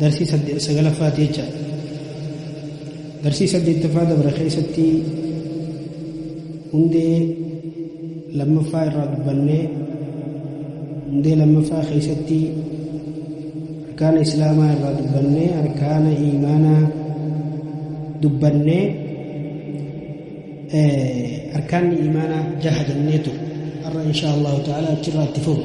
darsii sadde- sagalaffaati jecha darsii saddeettaffaa dabra keessatti hundee lammaffaa irraa dubbannee hundee lammaffaa keessatti arkaana islaamaa irraa dubbannee arkaana iimaanaa dubbannee eh, arkaanni iimaanaa jaha jennee ture har'a insha allahu ta'ala achirraa itti fufu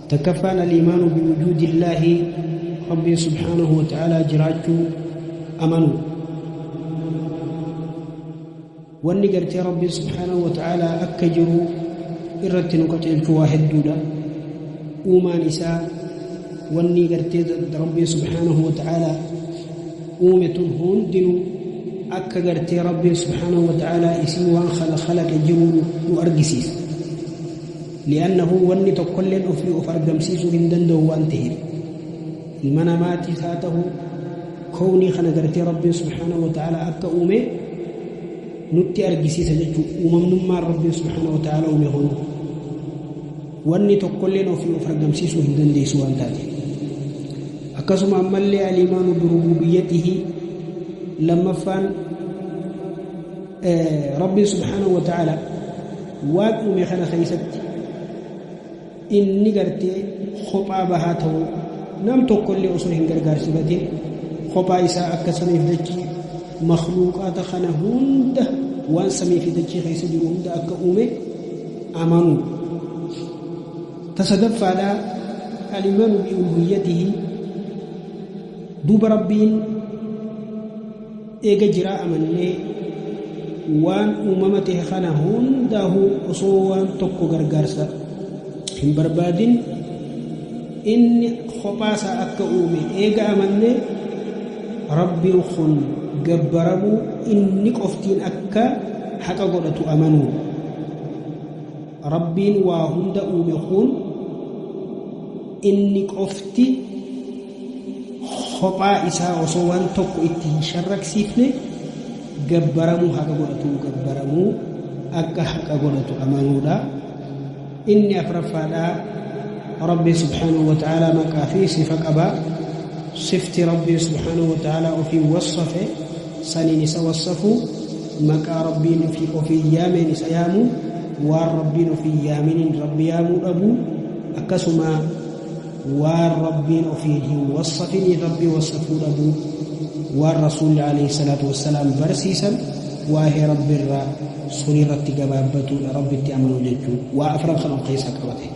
Takkaffaan aliimaanu biwujuudillaahi Rabbiin subhaanahu wa ta'aalaa jiraachuu amanuu. Wanni gartee Rabbiin subhaanahu wa ta'aalaa akka jiru irratti nu qaceelchu waa hedduudha. Uumaan isaa wanni gartee Rabbiin subhaanahu wa ta'aalaa uume tun hundinuu akka gartee Rabbiin subhaanahu wa ta'aalaa isii waan khalaqe jiru nu argisiisa. li'annahu wanni tokkolleen ofii of argamsiisuu hin danda'u waan ta'eef ilma namaatiis haa ta'u kownii kana gartee rabbiin subhaanahu wa ta'ala akka uume nutti argisiisa jechuu uumamnummaan rabbiin subhaanahu wa ta'ala uume kun wanni tokkolleen ofii of argamsiisuu hin dandeessu waan taate akkasuma ammallee alimaanu birububiyyatihi lammaffaan Rabbiin subhaanahu wa ta'ala waan uume kana keessatti inni gartee kophaa bahaa ta'uu nam tokkollee osoo hin gargaarsifatin kophaa isaa akka samiif dachii makluuqaata kana hunda waan samii fi dachii keessa jiru hunda akka uume amanuu tasadaffaadhaa alimaanu bi'uluhiyyatihi duuba rabbiin Eega jiraa amannee waan uumama tahe kana hundaahuu osoo waan tokko gargaarsa hin barbaadin inni kophaasaa akka uume eega amannee Rabbiin kun gabbaramuu inni qoftiin akka haqa godhatu amanuudha. Rabbiin waa hunda uume kun inni qofti kophaa isaa osoo waan tokko itti hin sharraksiifne gabbaramuu haqa godhatu gabbaramuu akka haqa godhatu amanuudha inni afraffaadhaa rabbi subhaanahu wa ta'aalaa maqaa fi sifa qaba sifti rabbi subhaanahu wa ta'aalaa ofii wassafe saniin isa wassafuu, maqaa Rabbiin ofii ofiin yaameen isa yaamuu, waan Rabbiin ofiin yaaminiin Rabbi yaamuu dhabuu, akkasuma waan Rabbiin ofiin hin wassafiniin Rabbi wassafuu dhabuu, waan Rasuulli alayhi salaatu wassalaam barsiisan waahee Rabbi irraa sunirratti gabaabbatuudha, Rabbitti amanuu jechuun waa afran kan of keessa qabate.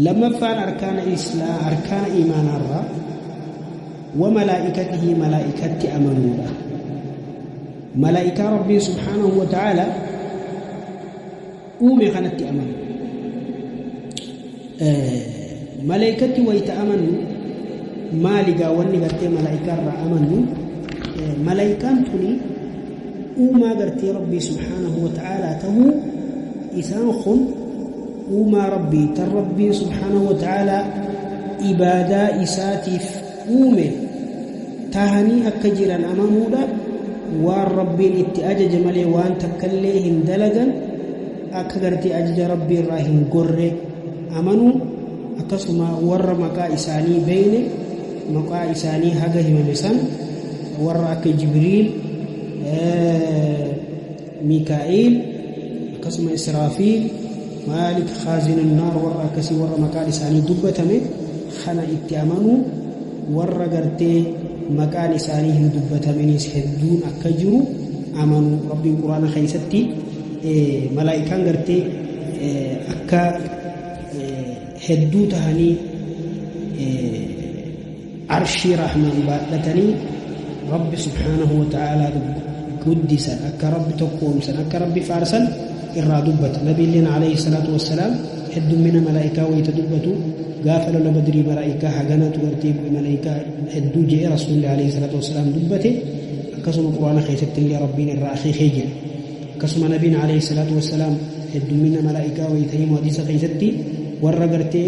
Lammaffaan arkaana islaa arkaana iimaanaarraa wa malaa'ikatihi malaa'ikatti amanuudha. Malaa'ikaa Rabbiin subhaanahu wa ta'aala uume kanatti amanu. Malaa'ikatti wayita amanu maali gaa wanni gartee malaa'ikaarraa amanu malaa'ikaan tuni uumaa gartee Rabbii subhaanahu wa ta'aala ta'uu isaan kun Uumaa Rabbii tan Rabbiin subhaanahu wa ta'aalaa ibaadaa isaatiif uume tahanii akka jiran amanuudha waan Rabbiin itti ajaje malee waan takkallee hin dalagan akka gartee ajaja Rabbii irraa hin gorre amanuu akkasuma warra maqaa isaanii beeyne maqaa isaanii haga himame san warra akka Jibriil Miikaa'iil akkasuma Israafiil, Maalik Khaazinun Naar warra akkasii warra maqaan isaanii dubbatame kana itti amanuu warra gartee maqaan isaanii hin dubbataminis hedduun akka jiru amanu rabbiin quraana keessatti malaa'ikaan gartee akka hedduu tahanii Arshii Rahmaan baadhatanii Rabbi subhaanahu wa ta'aalaa guddisan akka Rabbi tokkoomsan akka Rabbi faarsan irraa dubbata. Nabiilleen alayhi salaatu wassalaam heddummina malaa'ikaa wayita dubbatu gaafa lola badrii malaa'ikaa haganatu gartee bu'e malaa'ikaa hedduu je'e rasuulli alayhi salaatu wassalaam dubbate akkasuma quraana keessatti illee Rabbiin irraa akeekee jira. Akkasuma nabiin alayhi salaatu wassalaam heddummina malaa'ikaa wayita himu hadiisa keessatti warra gartee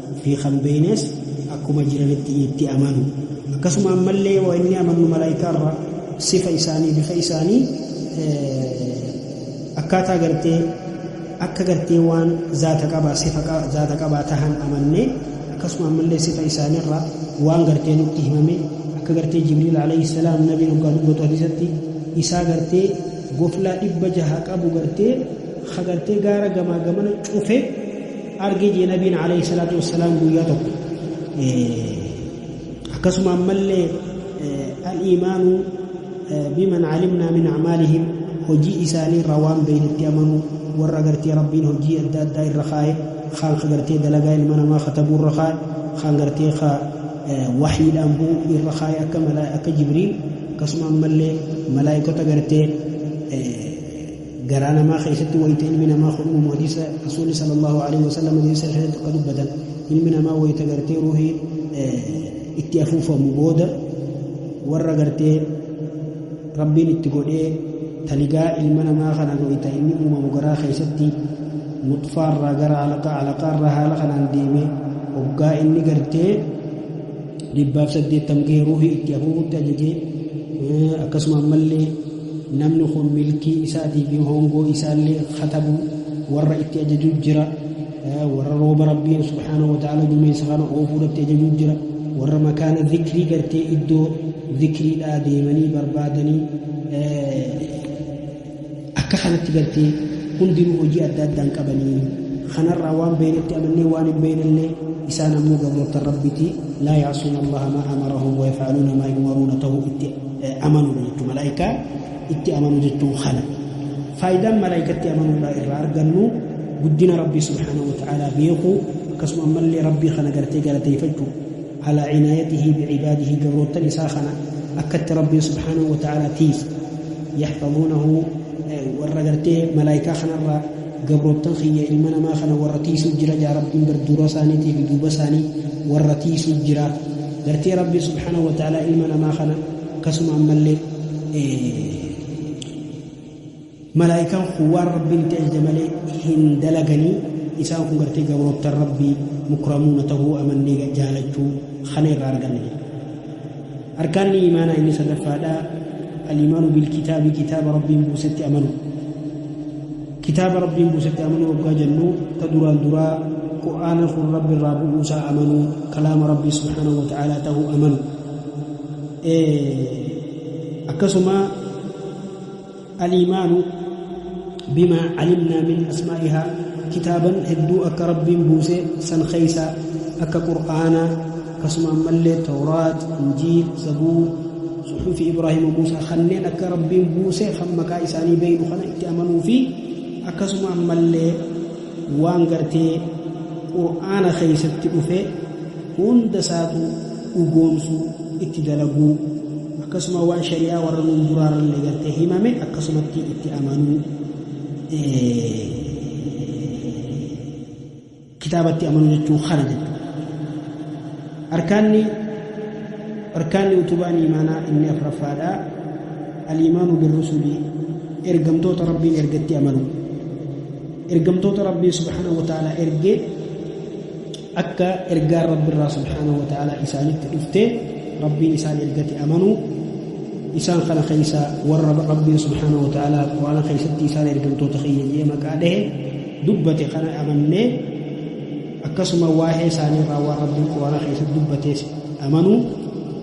fi kan beeynes akkuma jiranitti itti amanu akkasuma ammallee waa inni amannu malaaykaa irraa sifa isaanii bifa isaanii akkaataa gartee akka gartee waan zaata qabaa sifa zaata qabaa tahan amannee akkasuma ammallee sifa isaaniirraa waan gartee nutti himame akka gartee jibriil alayhi salaam nabiin hoggaa dubbatu hadiisatti isaa gartee goflaa dhibba jaha qabu gartee ha gartee gaara gamaa gamana cufe arge jee nabiin alayhi salaatu wassalaam guyyaa tokko akkasuma ammallee al-iimaanu biman calimnaa min acmaalihim hojii isaanii irraa waan beeynetti amanuu warra agartee rabbiin hojii adda addaa irra kaa'e kaan agartee dalagaa ilma namaa katabuu irra kaa'e kaan agartee kaa wahiidhaan bu'u irra kaa'e akka malaa akka jibriil akkasuma ammallee malaa'ikota agartee garaa namaa keessatti wayita ilmi namaa kun uumamu hadiisa rasuulli sallallahu alaihi wasallam hadiisa keessatti akka dubbatan ilmi namaa wayita gartee ruuhii itti afuufamu booda warra gartee rabbiin itti godhee taligaa ilma namaa kana wayita inni uumamu garaa keessatti nuxfaarraa gara alaqaa alaqaarraa haala kanaan deemee hoggaa inni gartee dhibbaaf saddeettam gahee ruuhii itti afuufutti ajajee akkasuma ammallee namni kun milkii isaatii fi hoongoo isaallee katabu warra itti ajaju jira warra rooba rabbiin subhaanahu wa ta'ala duumessa kana oofuu irratti ajaju jira warra makaana zikrii gartee iddoo zikriidhaa deemanii barbaadanii akka kanatti gartee hundinuu hojii adda addaan qabanii kanarraa waan beeynetti amannee waan hin beeynellee isaan ammoo gabroota rabbitii laa yaasuuna allaha maa amarahum wayafaaluuna maa yumaruuna ta'uu itti amanuu jechuu malaa'ikaa itti amanuu jechuun kana faayidaan malaa'ikatti amanuudhaa irraa argannu guddina rabbii subhaanahu wa ta'aalaa beekuu akkasuma ammallee rabbii kana gartee galateeffachuu alaa cinaayatihi bicibaadihi gabroottan isaa kana akkatti rabbiin subhaanahu wa ta'aalaa tiif yaxfaduunahu warra gartee malaa'ikaa kanarraa gabroottan kiyya ilma namaa kana warra tiisuu jira jaa rabbiin bar dura isaaniitiif duuba isaanii warra tiisuu jira Gartee Rabbii subhaanahu wa ta'aalaa ilma namaa kana akkasuma ammallee malaa'ikaan kun waan Rabbiin itti ajaje malee hin dalaganii isaan kun gartee gabroottan Rabbii mukramuuna ta'uu amannee jaalachuu kana irraa arganna jedha. Arkaanni imaanaa inni sadaffaadhaa al-imaanu bil kitaabi kitaaba Rabbiin buusetti amanu. Kitaaba Rabbiin buusetti amanuu oggaa jennu, ta duraan duraa Qur'aana kun Rabbi irraa bu'uu isaa amanuu, kalaama Rabbii subhaanahu wa ta'aalaa tahuu amanu. Akkasuma al-iimaanu bimaa calimnaa min asmaa'ihaa kitaaban hedduu akka Rabbiin buuse san keeysa akka Qur'aana akkasuma ammallee tawraat injiil zabuur suxufi ibraahimu muusaa kanneen akka rabbiin buuse kan maqaa isaanii beeynu kana itti amanuu fi akkasuma ammallee waan gartee qur'aana keeysatti dhufe hunda isaatu dhugoomsuu itti dalaguu akkasuma waan shari'aa warra nuun duraarallee gartee himame akkasumatti itti amanuu kitaabatti amanuu jechuun kana jechuudha. Arkaanni arkaanni utubaan imaanaa inni afraffaadha. Aliimaanu birrusulii ergamtoota rabbiin ergatti amanu. Ergamtoota rabbiin subhaanahu wa ta'ala ergee akka ergaan rabbirraa subhaanahu wa ta'ala isaanitti dhuftee rabbiin isaan ergatti amanu isaan kana keessa warra rabbiin subhaanahu wa ta'ala quraana keessatti isaan ergamtoota kiyya jee maqaa dhahe dubbate kana amannee akkasuma waa'ee isaanii irraa waan rabbiin quraana keessatti dubbatees amanuu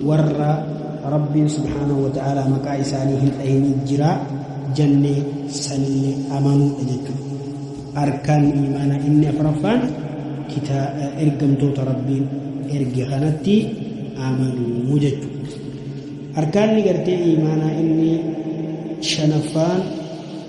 warra rabbiin subhaanahu wa ta'aalaa maqaa isaanii hin dhahinii jiraa jannee sanillee amanuudha jechuudha arkaan imaana inni afraffaan kitaa ergamtoota rabbiin erge kanatti amanuu jechuudha arkaanni gartee imaanaa inni shanaffaan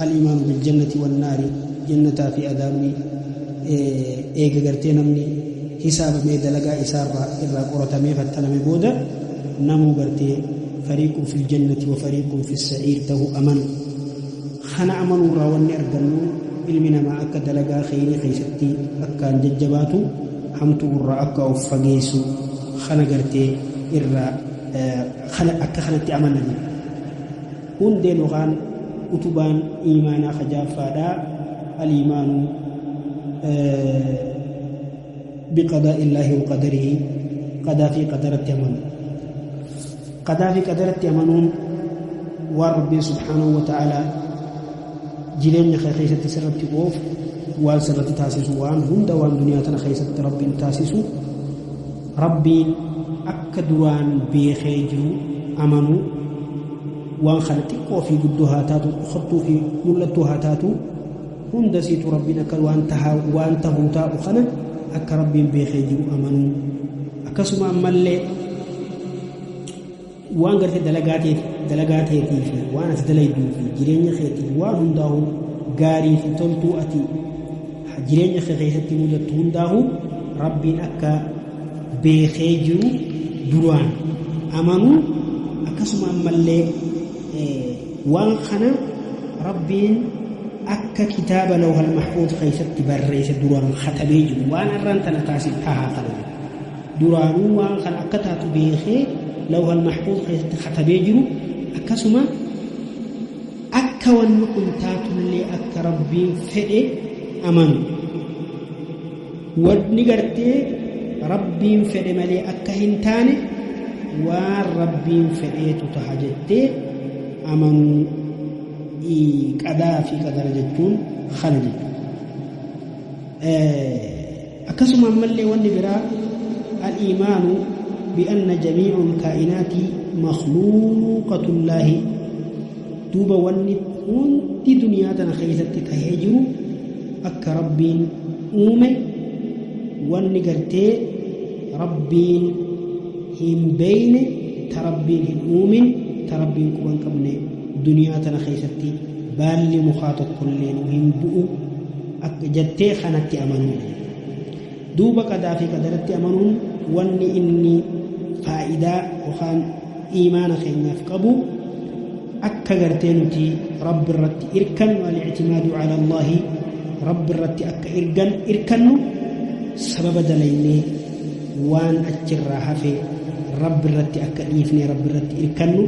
Al-iimaanu bil-jannati wan-naari, Jannataa fi Adaabni eega gartee namni hisaabamee dalagaa isaarraa irraa qoratamee fattaname booda namuu gartee fariiqun fil-jannati wa fariiqun fis-sa'iir tahu amanu. Kana amanuurraa wanni argannu ilmi namaa akka dalagaa kheyrii keessatti akkaan jajjabaatu hamtu'urraa akka of fageessu kana gartee irraa kana akka kanatti amanna jenna. Hundeen yookaan utubaan iimaanaa ka jaaffaadhaa aliimaanu biqadaa illaahi wa qadarii qadaa fi qadaratti amanu qadaa fi qadaratti amanuun waan rabbiin subhaanahu wa ta'aalaa jireenya kee keessatti sirratti oof waan sirratti taasisu waan hunda waan duniyaa tana keessatti rabbiin taasisu Rabbiin akka duraan beekee jiru amanuu, waan kana xiqqoo fi guddoo haa taatu, dhokattuu fi mul'attuu haa taatu, hunda siitu Rabbiin akka waan tahaa waan tahuu taa'u kana akka Rabbiin beekee jiru amanuu. Akkasuma ammallee Waan gartee dalagaa teeti dalagaa teetii fi waan ati dalayduu fi jireenya keetiif waan hundaa'u gaarii fi toltuu ati jireenya kee keessatti mudattu hundaa'u rabbiin akka beekee jiru duraan amanuu akkasuma ammallee waan kana rabbiin akka kitaaba lawhal mahfuuz keessatti barreesse duraan katabee jiru waan arraan tana taasif tahaa kana duraanuu waan kana akka taatu beekee lawhal mahfuuz keessatti katabee jiru akkasuma akka wanni kun taatullee akka rabbiin fedhe amanu wanni gartee rabbiin fedhe malee akka hin taane waan rabbiin fedheetu taha jettee amanuu qadaa fi qadara jechuun kana jechuudha. Akkasuma ammallee wanni biraa al-iimaanu bi'anna jamiicul kaa'inaati makhluuqatullaahi duuba wanni hundi duniyaa tana keessatti tahee jiru akka rabbiin uume wanni gartee rabbiin hin beeyne ta rabbiin hin uumin ta rabbiin quban qabne duniyaa tana keessatti baalli mukaa tokkolleen hin bu'u akka jattee kanatti amanuu duuba qadaa fi qadaratti amanuun wanni inni faayidaa yookaan iimaana keenyaaf qabu akka gartee nuti rabbi irratti irkannu al-ictimaadu ala allahi rabbi irratti akka irgan irkannu sababa dalaynee waan achirraa hafe rabbi irratti akka dhiifne rabbi irratti irkannu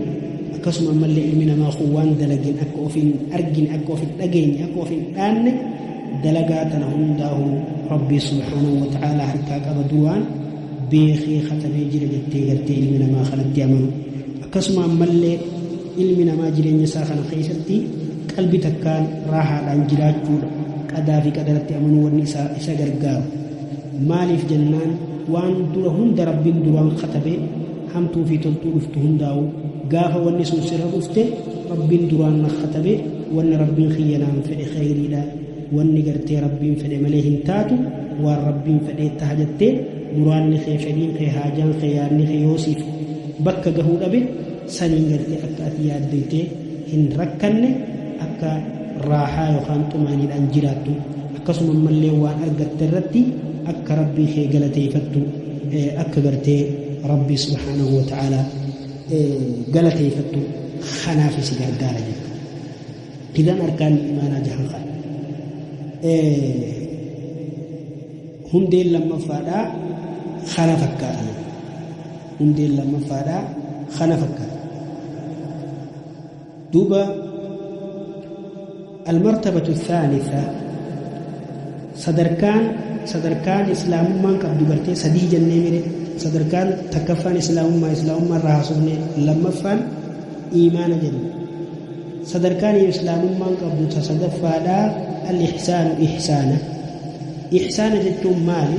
akkasuma ammallee ilmi namaa kun waan dalagin akka ofiin argine akka ofiin dhageenye akka ofiin dhaanne dalagaa tana hundaahu rabbii subhaanahu wa ta'aalaa harkaa qaba duraan beekee katabee jira jettee gartee ilmi namaa kanatti amanu akkasuma ammallee ilmi namaa jireenya isaa kana keessatti qalbi takkaan raahaadhaan jiraachuudha qadaa fi qadaratti amanuu wanni isa gargaaru Maaliif jennaan waan dura hunda Rabbiin duraan katabe hamtuu fi toltuu dhuftu hundaa'u gaafa wanni sun sirra dhufte Rabbiin duraan na katabe wanni Rabbiin kiyya naan fedhe kheyriidha wanni gartee Rabbiin fedhe malee hin taatu waan Rabbiin fedhee taha jettee muraanni kee fedhiin kee haajaan kee yaadni kee yoo siif bakka gahuu dhabe saniin gartee akka ati yaaddoytee hin rakkanne akka raahaa yookaan xumaaniidhaan jiraattu akkasuma ammallee waan argatte irratti akka rabbii kee galateeyfattu akka gartee rabbii subhaanahu wa ta'aalaa galateeyfattu kanaaf si gargaara jechuu idan arkaan imaanaa jahan kana hundeen lammaffaadhaa kana fakkaatan hundeen lammaffaadhaa kana fakkaata duuba almartabatu thaanitha sadarkaan sadarkaan islaamummaan qabdu gartee sadii jennee mire sadarkaan takkaffaan islaamummaa islaamummaa irraa haasofne lammaffaan iimaana jenna sadarkaan islaamummaan qabdu ta sadaffaadhaa al-ihsaanu ihsaana ihsaana jechuun maali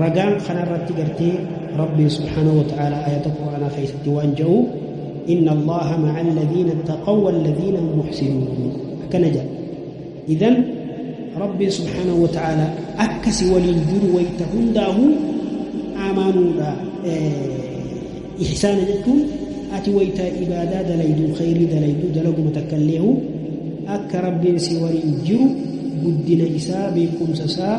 ragaan kana irratti gartee rabbiin subhaanahu wa ta'aalaa ayata qur'aanaa keessatti waan ja'u inna allaha ma'a alladhiina ittaqaw walladhiina hum muhsinuun akkana jedha idan rabbiin subhaanahu wa ta'aalaa akka si waliin jiru wayta hundaahu amaanuudha ihsaana jechuun ati wayta ibaadaa dalaydu khayrii dalaydu dalaguma takka illeehu akka rabbiin si waliin jiru guddina isaa beekumsa isaa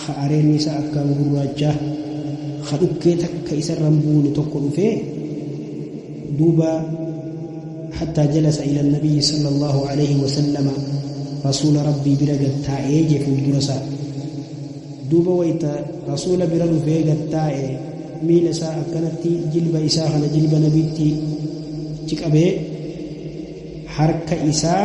ka areenni isaa akkaan gurraachaa ka dhukkee takka isarra hin buune tokko dhufee duuba hattaa jalasa ila nabiyyi sala allaahu alayhi wasallama rasuula rabbii bira gad taa'ee jee fuuldura isaa duuba wayta rasuula bira dhufee gad taa'e miila isaa akkanatti jilba isaa kana jilba nabiitti achi qabee harka isaa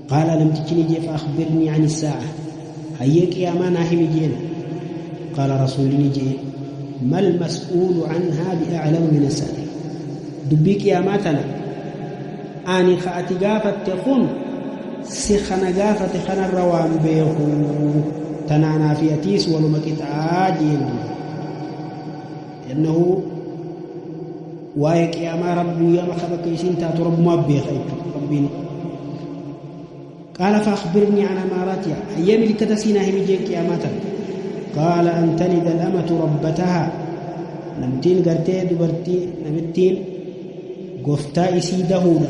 Qaala namtichi ni jee fa'akhbirnii ani saa'a hayyee qiyaamaa naa himi jeen qaala rasuulli ni jee mal mas'uulu anhaa bi'a'lamu min asaa'il dubbii qiyaamaa tana ani ka ati gaafatte kun si kana gaafate kanarra waan beeku tanaanaa fi atiis waluma qixaa jeen duuba لأنه waa'ee qiyaamaa rabbii yaama kan akka isiin taatu rabbumaa beeka jechuudha rabbiin qaala faakbirnii an amaaraatiha hayyee milikkata siinaa himi jeen qiyaamaa tan qaala an talida alamatu rabbataha namtiin gartee dubartii namittiin goftaa isii dahuudha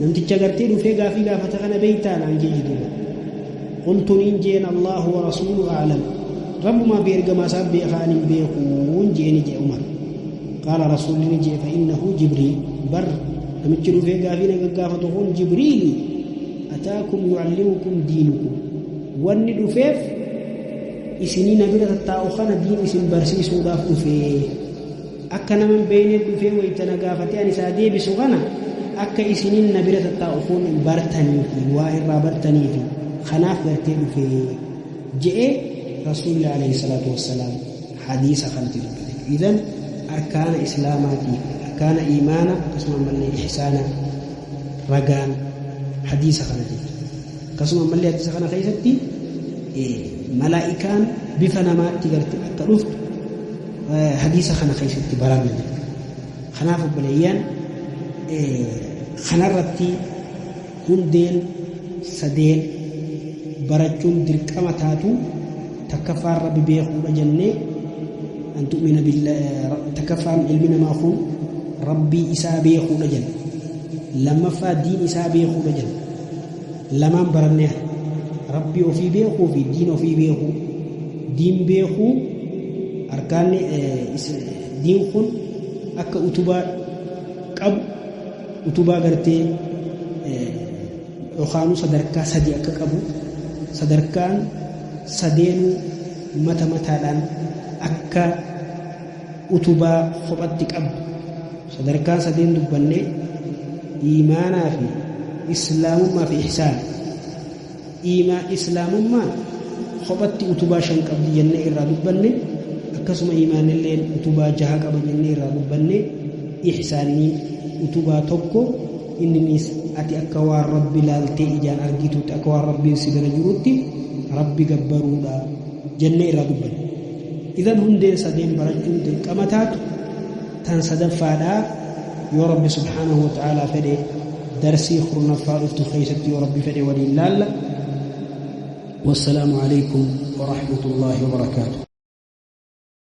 Namticha gartee dhufee gaafii gaafata kana beeytaa naan jee jiduudha. Qultu niin jeen Allaahu wa rasuulu a'lam. Rabbumaa fi ergamaa isaa beekaa ani hin beekuun jee ni jee Umar. Qaala rasuulli ni jee fa'innahu Jibriil. Bar namichi dhufee gaafii na gaggaafatu kun Jibriili. Ataakum yu'allimukum diinukum. Wanni dhufeef isinii na bira tattaa'u kana diin isin barsiisuudhaaf dhufee. Akka nama hin beekne dhufee wayita na gaafatee ani isaa deebisu kana akka isiniin na bira tattaa'u foon hin bartaniifi waa irraa bartaniifi kanaaf gartee dhufee je'ee rasuulli alayhi salaatu wassalaam hadiisa kanatti dubbate idan arkaana islaamaatii fi arkaana iimaana akkasuma ammallee ihsaana ragaan hadiisa kana jechuudha akkasuma ammallee hadiisa kana keessatti malaa'ikaan bifa namaatti garte akka dhuftu hadiisa kana keessatti baranna jechuudha. Kanaaf obboleeyyan kanarratti hundeen sadeen barachuun dirqama taatu takkaffaan rabbi beekuudha jennee an tu'mina takkaffaan ilmi namaa kun rabbii isaa beekuudha jenna lammaffaa diin isaa beekuudha jenna lamaan baranneera. Rabbii ofii beekuu fi diin ofii beekuu. Diin beekuu arkaanni diin kun akka utubaa qabu utubaa gartee yookaanuu sadarkaa sadi akka qabu sadarkaan sadeenuu mata mataadhaan akka utubaa kophatti qabdu sadarkaan sadeen dubbanne iimaanaa fi islaamummaa fi ihsaan iimaa islaamummaa kophatti utubaa shan qabdi jennee irraa dubbanne akkasuma iimaanilleen utubaa jaha qaba jennee irraa dubbanne ihsaanni utubaa tokko inninis ati akka waan rabbi laaltee ijaan argitutti akka waan rabbiin si bira jirutti rabbi gabbaruudha jennee irraa dubbanne Idan hundeen sadeen barachuun dirqama taatu tan sadaffaadha. Yoo Rabbi subhaanahu wa ta'aalaa fedhe darsii kurnaffaa dhuftu keessatti yoo Rabbi fedhe waliin laalla. Wassalaamu alaikum wa rahmatullaahi wa barakaatu.